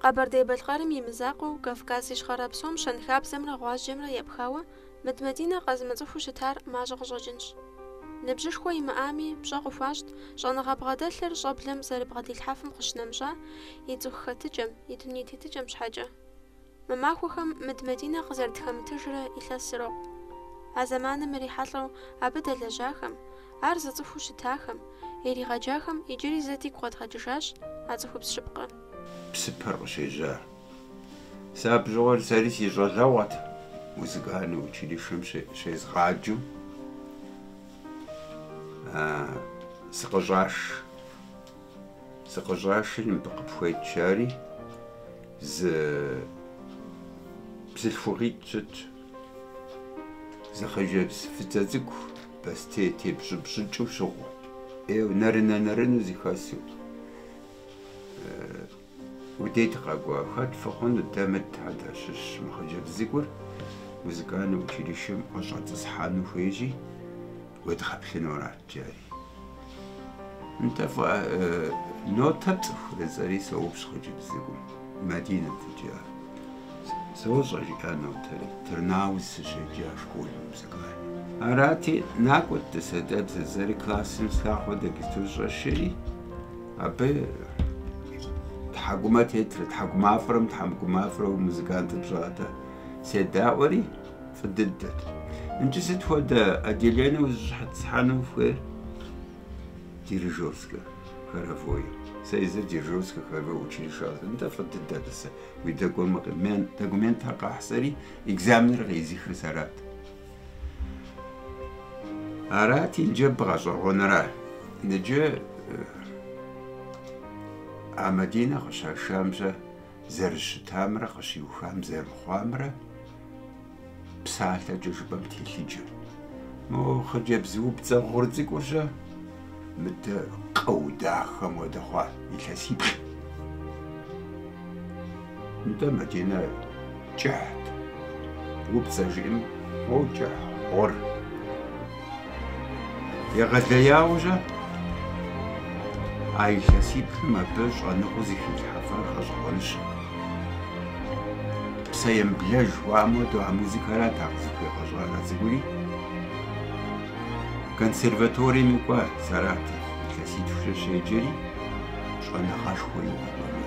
Къэбэрдей-Балъкъэрым и мызакъуэу, Кавказ Ищхъэрэ псом щэнхабзэмрэ гъуазджэмрэ епхауэ Мыд Мадинэ къэзымыцӏыхуу щытар мащӏэ къыщӏэкӏынщ. Ныбжьышхуэ имыӏами, пщӏэ къыхуащӏт щӏэныгъэ бгъэдэлъыр щӏэблэм зэрыбгъэдилъхьэфым къыщынэмыщӏа и цӏыху хэтыкӏэм, и дуней тетыкӏэм щхьэкӏэ. Мы махуэхэм Мыд Мадинэ къызэрытхэмытыжрэ илъэс ирокъу. А зэманым ирихьэлӏэу абы дэлэжьахэм, ар зыцӏыхуу щытахэм, иригъэджахэм иджыри зэ дигу къэдгъэкӏыжащ а цӏыхубз щыпкъэр. псыпэр къыщежьар. Сэ абы щыгъуэр сэри си щӏалэгъуэт, музыкальный училищэм щезгъаджэу сыкъыщӏаш. Сыкъыщӏашри, мыбы къыпхуейт жари, зы бзылъхугъитӏ щытщ. Зы хъыджэбз фӏыцӏэ цӏыкӏу бостей тепщӏыпщӏыкӏыу щыгъыу, ӏейуэ нэрынэ-нэрыну зыхэсу. Уи дейт къэкӏуа, хэт фыхъуну, дэ Мыдхэ дащыщщ, мы хъыджэбз цӏыкӏур музыкальнэ училищэм къыщӏэтӏысхьэну хуейщи, уедгъэплъыну арат, жари. Нтӏэ, фӏыӏэ, нотэ пцӏыхурэ жысӏэри соупщӏ хъыджэбз цӏыкӏум, Мадинэт иджы ар. Сощӏэ, жиӏа нотэри, Тырнауз сыщеджа школым музыкальным. Арати, накӏуэт тӏасэ дэ бзэ жысӏэри классым слъагъур дэгизту щӏэсшэри. Абы тхьэкӏумэ тетрэ, тхьэкӏумафӏэрэ мытхьэкӏумафӏэрэ музыкантым щӏадэ. Седаӏуэри, фӏы дыдэт. Иджы сыт хуэдэ отделение узыщӏэтӏысхьэну ухуейр? Дирижерскэ хоровое. Сэ езыр дирижерскэ хоровое училищэ. Нтӏэ, фӏы дыдэ, тӏасэ. Уи документхэр къэхь жысӏэри, экзаменыр къеӏызыхыр сэрат. Арати, иджы бгъэщӏэгъуэнра. Иджы а Мадинэ къыщашам-щэ зэрыщытамрэ къыщиухам зэрыхъуамрэ псалъэкӏэ жыпӏэм телъыджэ. Мо хъыджэбз упцӏэ гъур цӏыкӏур-щэ? Мыдэ къыу дахэм хуэдэ хъуа илъэсиплӏ. Нтӏэ, Мадинэ, кӏыхьт, упцӏэ жиӏэм кӏыхь гъур. Егъэлеяуэ-щэ, а илъэсиплӏым абы щӏэныгъэу зыхилъхьэфар гъэщӏэгъуэнщ. Псэемыблэж жыхуаӏэм хуэдэу а музыкэрат а къызыхуигъэщӏар а цӏыкӏури. Консерваторием кӏуэри Саратов илъэситхукӏэ щеджэри, щӏэныгъэшхуэ иухуэну.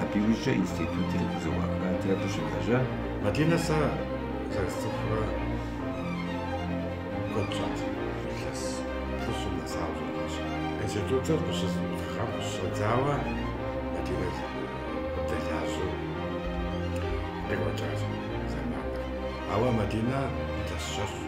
Абы иужькӏэ институтыр къызэӏуахати, абы щылэжьа. Мадинэ сэ зэрысцӏыхурэ куэд щӏат. Илъэс плӏыщӏым нэсауэ щытащ. Институтыр къыщызэӏуахам къыщыщӏэдзауэ Мадинэ къыдэлажьэу къекӏуэкӏащ зэманыр. Ауэ Мадинэ илъэс щэщӏщ.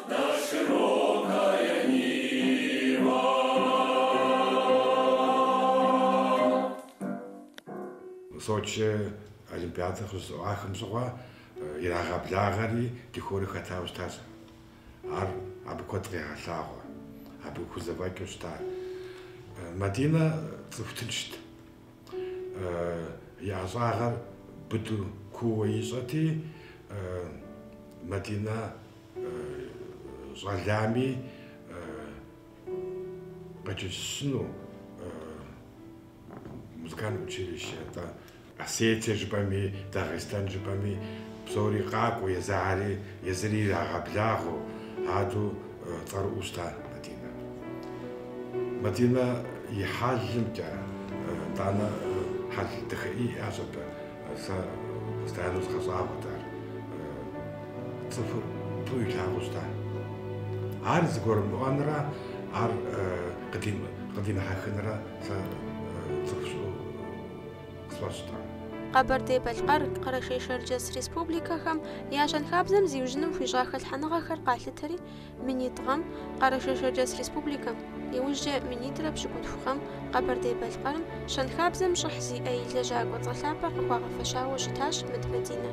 Сочи олимпиадэр къыщызэӏуахам щыгъуэ ирагъэблагъэри ди хорыр хэтауэ щытащ. Ар абы куэд къегъэлъагъуэ, абы хузэфӏэкӏыу щыта. Мадинэ цӏыху тыншт, и ӏэщӏагъэр быдэу куууэ ищӏэти, Мадинэ Щӏалами къечэнджэщыну музыкальное училище, атӏэ Осетие жыпӏэми, Дагъистан жыпӏэми псори къакӏуэу, езыари, езыри ирагъэблагъэу, адэу цӏэрыӏуэу щыта Мадинэ. Мадинэ и хьэлымкӏэ, итӏанэ хьэл дахэ иӏащ абы, Сэ постоянно згъэщӏагъуэт ар. Цӏыхур фӏыуэ илъагъуу щыта. Ар зыгурымыӏуэнрэ ар къыдимыхьэхынрэ сэ цӏыху щыӏэу къысфӏэщӏтэ. Къэбэрдей-Балъкъэр, Къэрэшей-Шэрджэс республикэхэм я щэнхабзэм зиужьыным хуищӏа хэлъхьэныгъэхэр къалъытэри, Минитӏ гъэм Къэрэшей-Шэрджэс республикэм, иужькӏэ минитӏрэ пщыкӏутху гъэм Къэбэрдей-Балъкъэрым щэнхабзэм щӏыхь зиӏэ и лэжьакӏуэ цӏэ лъапӏэр къыхуагъэфэщауэ щытащ Мыд Мадинэ.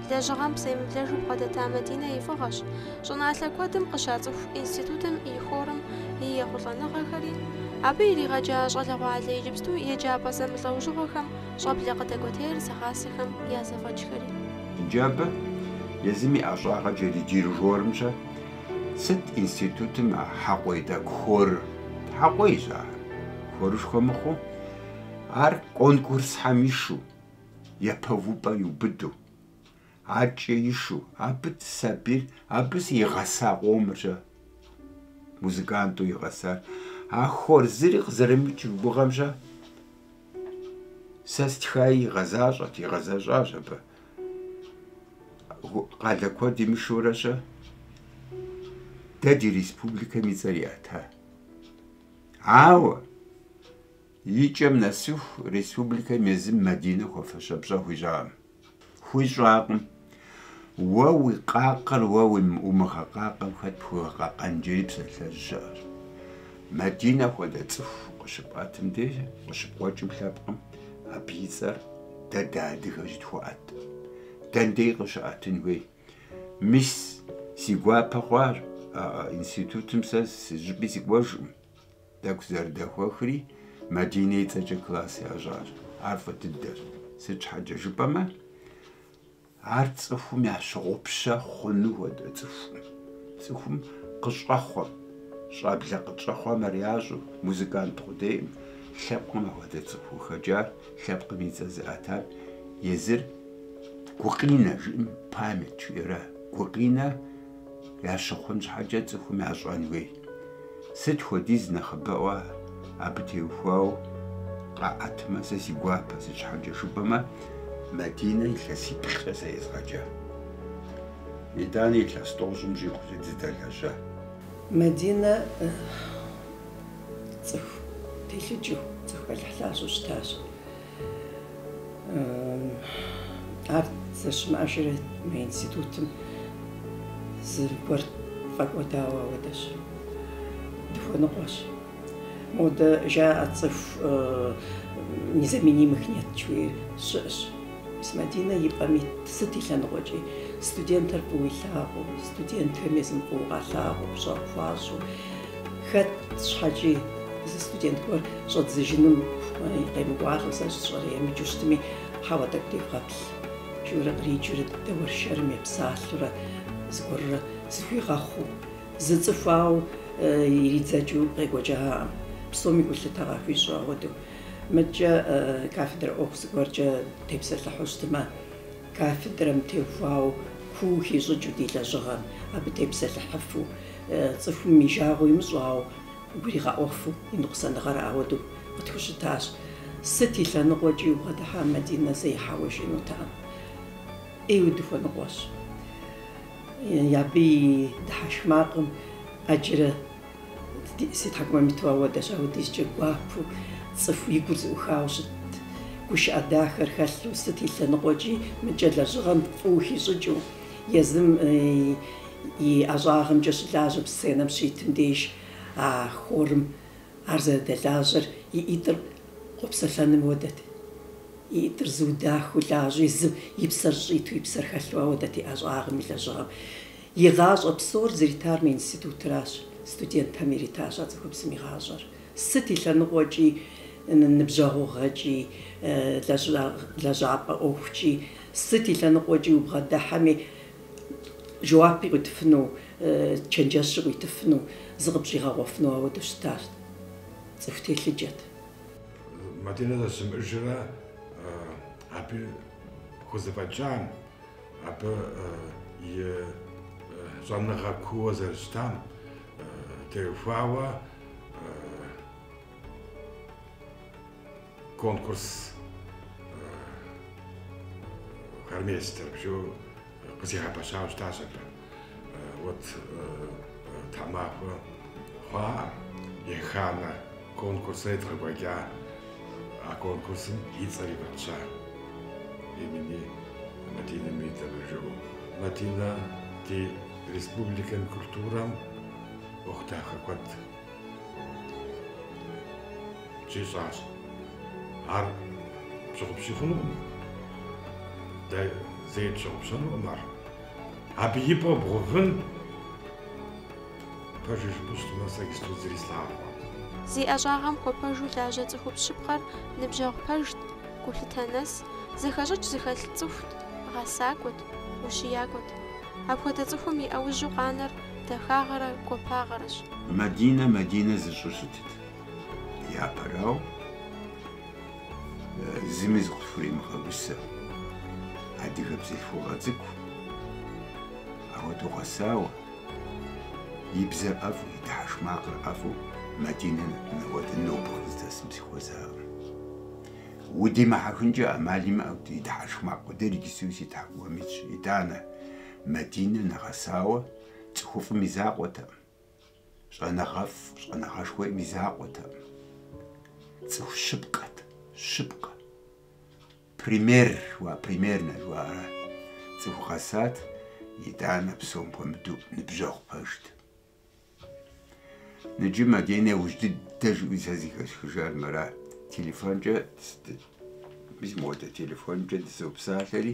Лэжьыгъэм псэемыблэжу бгъэдэта Мадинэ и фӏыгъэщ щӏыналъэ куэдым къыщацӏыху институтым и хорым и ехъулӏэныгъэхэри, абы иригъэджа щӏалэгъуалэ иджыпсту еджапӏэ зэмылӏэужьыгъуэхэм Щӏэблэ къыдэкӏуэтейр зыгъасэхэм я зэфӏэкӏхэри. Иджы абы, езым и ӏэщӏагъэ джэди дирижёрым щэ, сыт институтым а хьэкъуей тӏэкӏу хорыр? Хьэкъуейщ ахэр, хорышхуэ мыхъуу, ар конкурсхэм ишу, япэ увыпӏэ иубыду. Адэкӏэ ишу, абы сабийр, абы игъэса къомыр щэ, музыканту игъэсар. А хор зыри къызэрымыкӏ уи гугъэм щэ, сэ стхаи игъэзащӏэт, игъэзэщӏащ абы. Къалэ куэдым ишурэ щэ, дэ ди республикэм и цӏэр иӏэта. Ауэ и кӏэм нэсыху республикэм езым Мадинэ хуэфащэ пщӏэ хуищӏакъым. Хуищӏакъым. Уэ уи къакъэр уэ умыгъэкъакъэм, хэт пхуигъэкъэкъэн жери псалъэжь щыӏэр? Мадинэ хуэдэ цӏыху къыщыпӏэтым деж, къыщыпкъуэкӏым лъэпкъым, абы и цӏэр дэ дыадыгэ щытхуэӏэтым. Дэндей къыщыӏэтын хуей? Мис, си гуапэ хъуар, а институтым сэ зыщӏыпӏи сыкӏуэжкъым. Тӏэкӏу зэрыдэхуэхри, Мадинэ и цӏэкӏэ класс ящӏащ. Ар фӏы дыдэщ. Сыт щхьэкӏэ жыпӏэмэ, ар цӏыхум ящыгъупщэ хъуну хуэдэ цӏыхукъым. Цӏыхум къыщӏэхъуэм, щӏэблэ къытщӏэхъуэм ар ящӏэу, музыкант къудейкъым, лъэпкъым апхуэдэ цӏыхуу хэкӏар, лъэпкъым и цӏэ зыӏэтар, езыр гукъинэ жиӏэм, память жиӏэрэ, гукъинэ. Ящыхъун щхьэкӏэ цӏыхум ящӏэн хуей. Сыт хуэдиз нэхъыбэӏуэ абы теухуауэ къаӏэтмэ, сэ си гуапэ, сыт щхьэкӏэ жыпӏэмэ, Мадинэ илъэсиплӏкӏэ сэ езгъэджа. Итӏанэ илъэс тӏощӏым щӏигъукӏэ дызэдэлэжьа. Мадинэ цӏыху телъыджэу, цӏыху, алыхь, лъэщу щытащ. Ар зэрыщымыӏэжрэ мы институтым зыгуэр фӏэкӏуэдауэ ауэдэщ. Дыхуэныкъуэщ. Модэ жаӏэ цӏыху незаменимых нет жи, уей щыӏэщ. Мис Мадинэ и пӏэм ит сыт и лъэныкъуэкӏи, студентыр фӏыуэ илъагъуу, студентхэм езым фӏыуэ къалъагъуу, пщӏэ къыхуащӏу. Хэт щхьэкӏи зы студент гуэр щӏэдзыжыным хуэи къемыкӏуалӏэу сэ сщӏэрэ емыджэу щытми, хьэуэ тӏэкӏу девгъэплъ, жиӏэурэ къриджэурэ дэуэршэрым епсалъэурэ зыгуэрурэ зыхуигъэхъуу, зы цӏыху ауэ иридзэкӏыу къекӏуэкӏакъым, псоми гулъытэ къахуищӏу. Ауэдэу мыдкӏэ кафедрэ ӏуэху зыгуэркӏэ тепсэлъыхьу щытмэ, Кафедрэм теухуауэ куу хищӏыкӏыу ди лэжьыгъэр, абы тепсэлъыхьыфу, цӏыхум и жагъуэ имыщӏауэ, гуригъэӏуэфу и ныкъусаныгъэр ауэдэу къытхущытащ. Сыт и лъэныкъуэкӏи убгъэдыхьа Мадинэ зэи хьэуэ жиӏэнутэкъым. ӏейуэ дыхуэныкъуэщ. Абы и дыхьэшх макъым ӏэджэрэ Си тхьэкӏумэм иту ауэдэщ, ауэдизкӏэ гуапэу, цӏыху и гур зыӏухауэ щытт, гушыӏэ дахэр хэлъу, сыт и лъэныкъуэкӏи мыдкӏэ лэжьыгъэм фӏыуэ хищӏыкӏыу, езым и ӏэщӏагъэмкӏэ щылажьэм сценэм щитым деж а хорым ар зэрыдэлажьэр и ӏитӏыр къопсэлъэным хуэдэт. И ӏитӏыр зыуэ дахэу лажьэ, езым и псэр щӏиту, и псэр хэлъу ауэдэт и ӏэщӏагъэм и лэжьыгъэм. И гъащӏэ псор зритар мы институтращ, студентхэм иритащ а цӏыхубзым и гъащӏэр. Сыт и лъэныкъуэкӏи, ныбжьэгъугъэкӏи, лэжьапӏэ ӏуэхукӏи, сыт и лъэныкъуэкӏи убгъэдыхьэми, жэуапи къуитыфыну, чэнджэщи къуитыфыну, зыкъыпщӏигъэгъуэфыну ауэдэу щытащ. Цӏыху телъыджэт. Мадинэ зэщымыӏэжрэ абы хузэфӏэкӏам Абы и щӏэныгъэ кууэ зэрыщытам теухуауэ конкурс хормейстеров жиӏэу къызигъэпэщауэ щытащ абы. Вот тхьэмахуэ хъуа еханэ конкурсыр едгъэкӏуэкӏа, а конкурсым и цӏэри фӏэтща имени Мадины Мидовой жиӏэу. Мадинэ ди республикэм и культурэм ӏуэху дахэ куэд щищӏащ. Ар пщыгъупщи хъунукъым, дэ зэи тщыгъупщэнукъым ар. Абы и пӏэ ибгъэувэн, пэжыр жыпӏэу щытмэ, сэ иджыпсту зыри слъагъукъым. Зи ӏэщӏагъэм хуэпэжу лажьэ цӏыхубз щыпкъэр ныбжьэгъу пэжт, гулъытэ нэс, зэхэщӏыкӏ зыхэлъ цӏыхут, гъэсакӏуэт, ущиякӏуэт. Апхуэдэ цӏыхум и ӏэужьу къанэр дахагъэрэ гуапагъэрэщ. Мадинэ Мадинэ зыщӏу щытыт. Япэрауэ, Зыми зыкъысхуремыгъэгусэ, адыгэ бзылъхугъэ цӏыкӏу, апхуэдэу гъэсауэ, и бзэр ӏэфӏу, и дыхьэшх макъыр ӏэфӏу Мадинэ нэхуэдэ нобэ къыздэсым сыхуэзакъым. Удимыхьэхынкӏэ ӏэмал имыӏэу и дыхьэшх макъ къудейр иджыпсту си тхьэкӏумэм итщ. Итӏанэ, Мадинэ нэгъэсауэ цӏыхуфӏым и закъуэтэкъым. Щӏэныгъэфӏ, щӏэныгъэшхуэм и закъуэтэкъым. Цӏыху щыпкъэт, щыпкъэ. Пример, примернэ жыхуаӏэра. Цӏыху гъэсат, итӏанэ псом хуэмыдэу ныбжьэгъу пэжт. Ныджы Мадинэ иужь дыдэ жиӏэу сэ зэхэсхыжар мыра. Телефонкӏэ, мис модэ телефонкӏэ дызопсалъэри,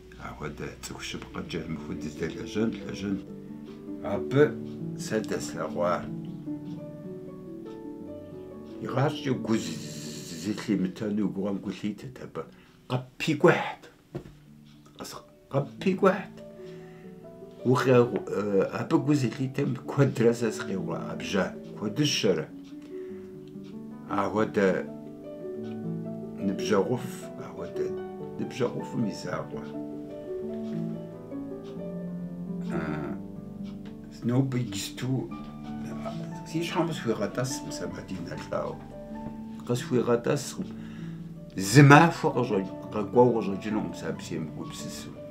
Апхуэдэ цӏыху щыпкъэкӏэ мыхуэ дыздэлэжьэн лэжьэн. Абы сэ дэслъэгъуа игъащӏэкӏэ гу зылъимытэну уи гугъэм гу лъитырт абы. Къыппикӏухьт. Къыппикӏухьт. Абы гу зылъитэм куэдрэ сэ сыкъигъэуӏэбжьа, куэдыщэрэ. Ахуэдэ ныбжьэгъуфӏ, ахуэдэ ныбжьэгъуфӏым и закъуэ. Нобэ иджысту си щхьэм къысхуигъэтӏэскъым сэ Мадинэ лӏауэ. Къысхуигъэтӏэскъым. Зы махуэ къэкӏуэу къыщӏэкӏынукъым сэ абы семыгупсысу.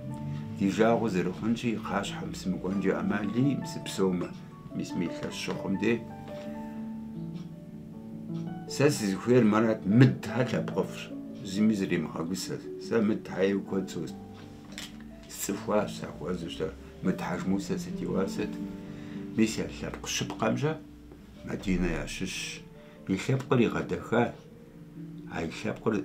Ди жагъуэ зэрыхъунщи, и кхъащхьэм сымыкӏуэнкӏэ ӏэмал иӏэкъым сыпсэумэ, мис мы илъэс щыхъум де. Сэ сызыхуейр Марат, Мыдхьэ лъэпкъыфӏщ, зыми зыремыгъэгусэ. Сэ Мыдхьэ ейуэ куэд со... сцӏыхуащ, сахуэзэу щыта, Мыд Хьэжмусэ сытеуасэт. Мис я лъэпкъ щыпкъэмщэ Мадинэ ящыщщ. И лъэпкъыр игъэдэха, а и лъэпкъыр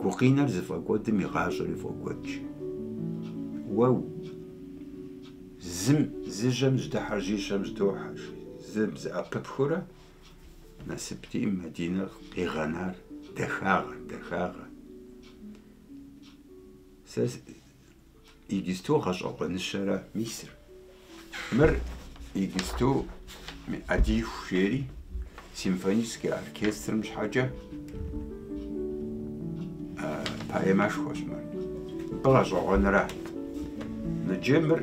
Гукъинэр зыфӏэкӏуэдым и гъащӏэри фӏокӏуэд. Уэ зым, зы жьэм жьэдыхьэр жьищэм жьэдохьэ жи, зым зэӏэпыпхыурэ насыпти, Мадинэ къигъэнар, дахагъэ, дахагъэ. Сэ Иджысту гъэщӏэгъуэныщэрэ мисыр? Мыр иджысту Адииху жери симфоническэ оркестрым щхьэкӏэ поэмэшхуэщ мыр. Мыбы гъэщӏэгъуэнра? Ныджы мыр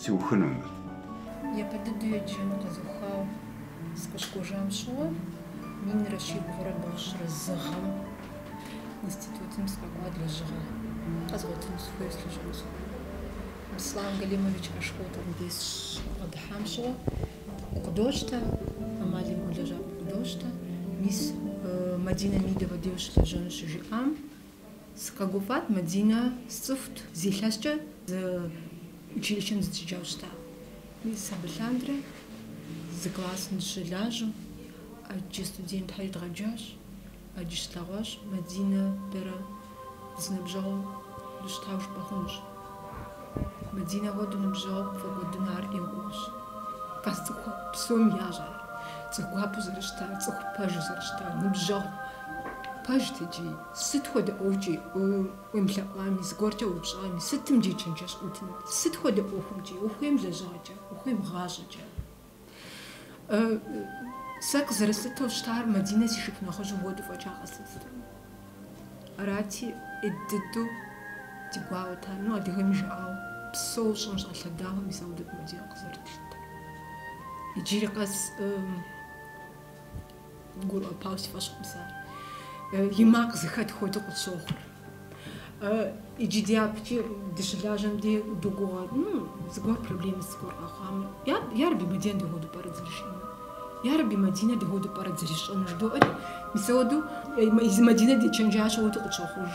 Сиухыну мыр. Япэ дыдэу еджэн къэзухау сыкъыщыкӏуэжам щыгъуэ, минрэ щибгъурэ бгъущӏрэ зы гъэм институтым сыкъэкӏуат лэжьыгъэ къэзгъуэтыну сыхуейр сылэжьэну сыхуейр. Беслан Галимович Ашхотовым де сыкъыдыхьам щыгъуэ укъыдощтэ, ӏэмал имыӏэу лэжьапӏэ укъыдощтэ, мис Мадинэ Мидовэ де ущылэжьэну щыжиӏам, Сыкъэгуфӏат, Мадинэ сцӏыхут. Зы илъэскӏэ зы училищэм дыщеджауэ щытащ. Мис абы лъандэрэ зы классым дыщылажьэу ӏэджэ студентхьэри едгъэджащ. Ӏэджи щытлъэгъуащ Мадинэ дэрэ зы ныбжьэгъуу дыщытауэ жыпӏэ хъунущ. Мадинэ хуэдэ ныбжьэгъу пфӏэкӏуэдыну ар ӏейуэ гугъущ. Къэс цӏыху псоми ящӏэ ар, цӏыху гуапэу зэрыщытар, цӏыху пэжу зэрыщытар, ныбжьэгъу пэжт икӏи. Сыт хуэдэ ӏуэхукӏи уемылъэӏуами, зыгуэркӏэ уеупщӏами, сытым дежи чэнджэщ къуитынут, сыт хуэдэ ӏуэхумкӏи, ухуейм лэжьыгъэкӏэ, ухуейм гъащӏэкӏэ. Сэ къызэрыслъытэу щытар Мадинэ си шыпхъу нэхъыжьым хуэдэу фӏэкӏа къэслъытэу. Арати, ӏей дыдэу ди гуауэт ар. Ну, адыгэм и жыӏауэ, псэууэ щӏым щӏэлъэдауэ, мис ахуэдэт Мадинэ къызэрытлъытэр. Иджыри къэс Гурыӏуэпауэ си фӏэщ хъукъым ар. И макъ зыхэт хуэдэу къытщохъур. Иджы дяпэкӏи дыщылажьэм дэ догугъэ, ну, зыгуэр проблемэ зыгуэр къэхъуамэ, ярэби Мадинэ дауэду пӏэрэ зэрищӏэнур? Ярэби Мадинэ дауэду пӏэрэ зэрищӏэнур? Жыдоӏэри, мис ауэдэу езы Мадинэ дечэнджэщ уэду къытщохъуж.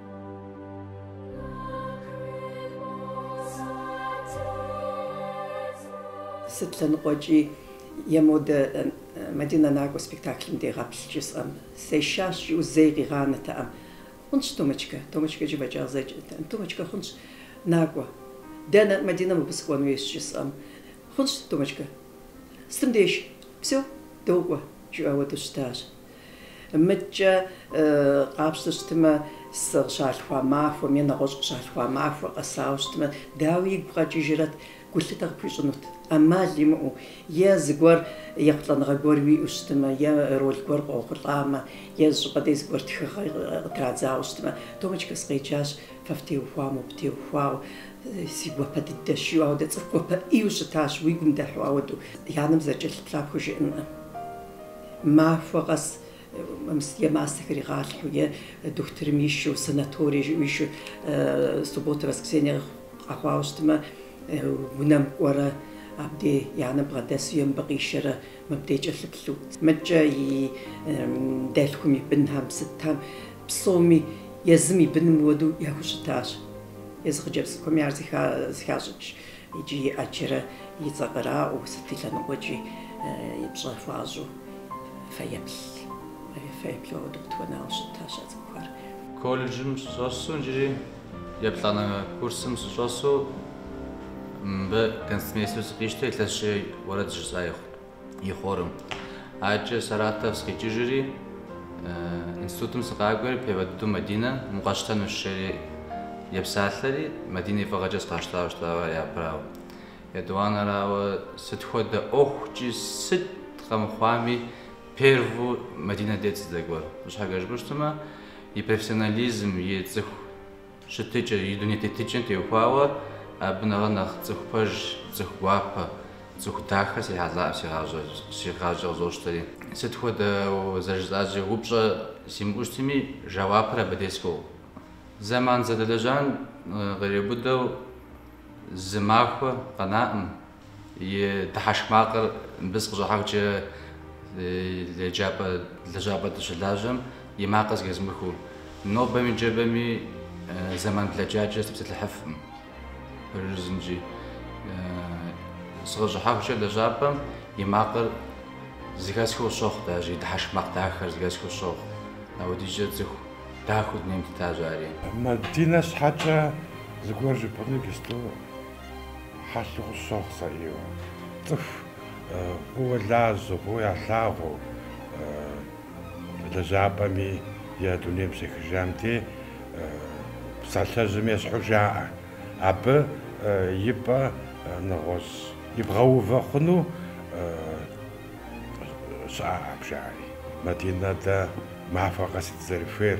Сыт лъэныкъуэкӏи е модэ Мадинэ накӏуэ спектаклым дегъэплъ жысӏэм, сешащ жиӏэу зэи къигъанэтэкъым. Хъунщ, Томочкэ, Томочкэ жиӏэу фӏэкӏа къызэджэтэкъым, Томочкэ, хъунщ, накӏуэ. Дэнэ, Мадинэ мыбы сыкӏуэн уейщ жысӏэм. Хъунщ, Томочкэ. Сытым деж. Всё, докӏуэ, жиӏэу ауэду щытащ. Мыдкӏэ къапщтэ щытымэ, сыкъыщалъхуа махуэм е нэгъуэщӏ къыщалъхуа махуэр къэсауэ щытымэ, дауи игу къэкӏыжрэт, гулъытэ къыпхуищӏынут, ӏэмал имыӏэу, е зыгуэр ехъулӏэныгъэ гуэр уиӏэу щытымэ, е роль гуэр къохъулӏамэ, е зы щӏыпӏэ дей зыгуэр тхыгъэ къытрадзауэ щытымэ, Томочка, сыкъеджащ, фэ фтеухуауэ, уэ птеухуауэ, си гуапэ дыдэщ, жиӏэу ауэдэ цӏыху гуапэ ӏейуэ щытащ, уи гум дыхьэу ауэдэу, и анэм зэрыкӏэлъыплъар пхужыӏэнукъым. Махуэ къэс е мастэ хригъэлъхьэу, е дохутырым ищу, санаторие жыӏэу ищу, субботэ, воскресенье къэхъуауэ щытмэ, унэм кӏуэрэ, абдей и анэм бгъэдэсу е мыбы къишэрэ, мыбдей кӏэлъыплъу. Мыдкӏэ и дэлъхум и бынхэм сытхэм, псоми езым и быным уэду яхущытащ. Езы хъыджэбз цӏыкӏухэми ар зыхащӏыкӏщ. Иджы ӏэджэрэ и цӏэ къраӏуэу, сыт и лъэныкъуэкӏи и пщӏэ хуащӏу фэеплъ, фэеплъу дэ къытхуэнауэ щытащ а цӏыхухэр. Колледжым сыщӏэсу иджыри еплӏанэ курсым сыщӏэсу мыбы концертмейстеру сыкъищтэ, илъэсищ уэрэд жысӏа и хо. и хорым. Адкӏэ Саратов сыкъикӏыжри, институтым сыкъакӏуэри, первэ дыдэу Мадинэ мыр къэсщтэнущ жери епсалъэри, Мадинэ и фӏыгъэкӏэ сыкъащтауэ щытауэ япэрауэ. Етӏуанэрауэ, сыт хуэдэ ӏуэхукӏи, сыт къэмыхъуами, перву Мадинэ дейт сыздэкӏуэр. Сыт щхьэкӏэ жыпӏэу щытмэ, и профессионализм, и цӏыху. Щытыкӏэ, и дуней тетыкӏэм теухуауэ, абы нэхърэ нэхъ цӏыху пэж, цӏыху гуапэ, цӏыху дахэ срихьэлӏаӏым си гъащӏэр, си гъащӏэ къызощтэри. Сыт хуэдэ, зэрыжысӏащи, упщӏэ симыӏэу щытми, жэуапыр абы дей згъуэтт. Зэман зэдэлэжьам къриубыдэу зы махуэ къэнаӏым. И дыхьэшх макъыр мыбы сыкъыщӏахьэхукӏэ еджапӏэ лэжьапӏэ дыщылажьэм и макъыр зыхэзмыхыу. Нобэми ныжэбэми зэман блэкӏакӏэ сыпсэлъыхьыфкъым. Пщэдджыжькӏи сыкъыщӏыхьэхукӏэ лэжьапӏэм и макъыр зыхэсхыу къысщохъу даже, и дыхьэшх макъ дахэр зыхэсхыу къысщохъу. Апхуэдизкӏэ цӏыху дахэу дунейм тетащ ари. Мадинэ щхьэкӏэ зыгуэр жыпӏэну иджыпсту Хьэлъэу къысщохъу сэ ӏейуэ. Цӏыху фӏыуэ лажьэу, фӏыуэ ялъагъуу, лэжьапӏэми е дунейм щехыжам дей, псалъэжьым ещхьу жаӏэ. Абы и пӏэ нэгъуэщӏ ибгъэувэ хъуну щыӏэкъым жари. Мадинэ дэ махуэ къэс дызэрыхуейр.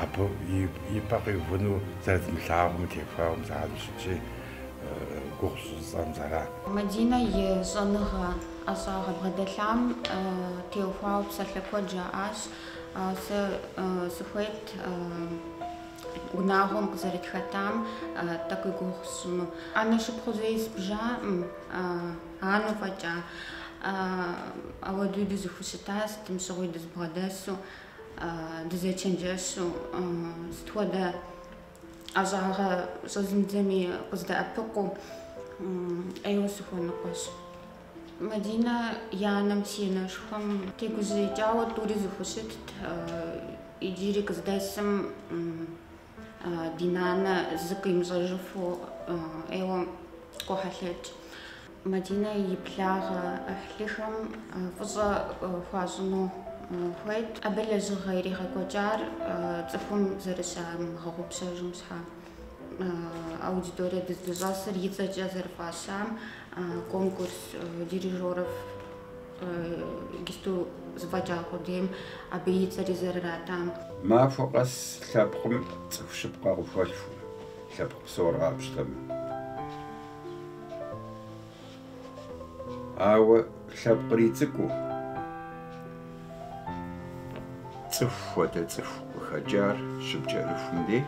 Абы и пӏэ къиувыну зэрыдмылъагъум теухуауэ зыгъэзыщытщи, гугъу щӏыцӏэм зэран. Мадинэ и щӏэныгъэ ӏэщӏагъэ бгъэдэлъам теухуауэ псалъэ куэд жаӏащ, сэ сыхуейт унагъуэм къызэрытхэтам тӏэкӏу и гугъу сщӏыну. Анэ шыпхъу зэи сбжаӏым, анэу фӏэкӏа. Апхуэдэуи дызыхущыта, сытым щыгъуи дызбгъэдэсу. дызечэнджэщу, сыт хуэдэ ӏэщӏагъэ щӏэзмыдзэми къыздэӏэпыкъуу ӏейуэ сыхуэныкъуэщ. Мадинэ и анэм си анэшхуэм тегужьеикӏауэ тӏури зыхущытт, иджыри къыздэсым Ди нанэ зыкъимыщӏэжыфу ӏейуэ къохьэлъэкӏ. Мадинэ и благъэ ӏыхьлыхэм фӏыщӏэ хуащӏыну хуейт. Абы лэжьыгъэ иригъэкӏуэкӏар цӏыхум зэрыщамыгъэгъупщэжым щхьэ. Аудиторие дыздыщӏэсыр и цӏэкӏэ зэрыфӏащам конкурс дирижеров Иджыпсту зэфӏэкӏа къудейм абы и цӏэри зэрыратам. Махуэ къэс лъэпкъым цӏыху щыпкъэ къыхуэлъхукъым, лъэпкъ псор къапщтэмэ. Ауэ лъэпкъри цӏыкӏуу, цӏыху хуэдэ цӏыху къыхэкӏар щыпкӏэрыхум дей,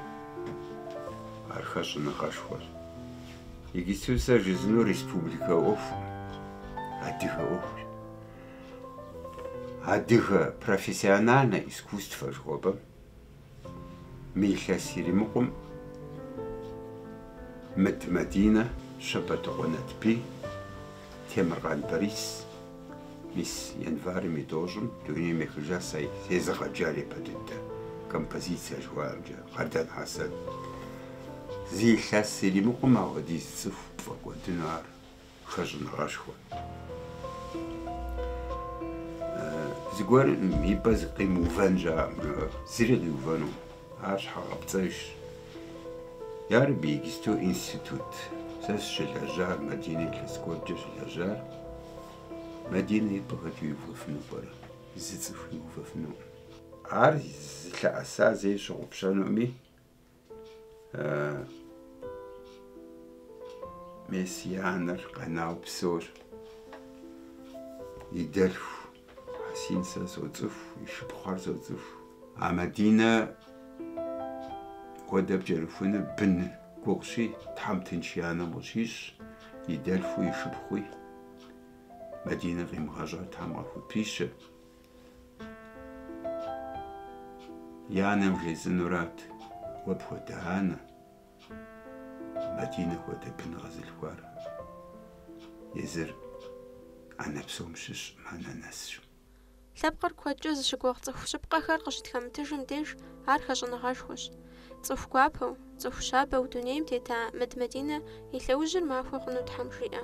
ар хэщӏыныгъэшхуэщ. Иджыпсту сэ жысӏэнур республикэ ӏуэхукъым, адыгэ ӏуэхущ. Адыгэ профессиональнэ искусствэ жыхуэпӏэм мы илъэс иримыкъум Мыд Мадинэ, Щэбэтыкъуэ Натбий, Темыркъан Борис мис январым и тӏощӏым дунейм ехыжа сэ сезыгъэджар япэ дыдэ композиция жыхуаӏэмкӏэ, Къардэн Хьэсэн. Зы илъэс иримыкъум апхуэдиз цӏыху пфӏэкӏуэдыну ар хэщӏыныгъэшхуэ. Зыгуэр и пӏэ зы къимыувэн щыӏэкъым, зыри къиувэнукъым. Ар щхьэгъэпцӏэжщ. Ярэби, иджысту институт. Сэ сыщылэжьар, Мадинэ илъэс куэдкӏэ щылэжьар. Мадинэ и пӏэ хэт иувэфыну пӏэрэ? Зы цӏыху иувэфынукъым. Ар зылъэӏэса зэи щыгъупщэнуми, мес и анэр къэнауэ псор и дэлъху. Хьэсин сэ соцӏыху, и шыпхъухэр соцӏыху. А Мадинэ хуэдэ пкӏэрыхуныр бын гугъущи, Тхьэм тынш и анэм къыщищӏ, и дэлъхуи, и шыпхъуи. Мадинэ къимыгъэщӏар Тхьэм къахупищэ. И анэм жесӏэнурат, уэ пхуэдэ анэ, Мадинэ хуэдэ бын къэзылъхуар езыр анэ псом щыщ анэ нэсщ. Лъэпкъыр куэдкӏэ зыщыгугъ цӏыху щыпкъэхэр къыщытхэмытыжым деж ар хэщӏыныгъэшхуэщ. Цӏыху гуапэу, цӏыху щабэу дунейм тета Мыд Мадинэ и лъэужьыр махуэ хъуну Тхьэм жиӏэ.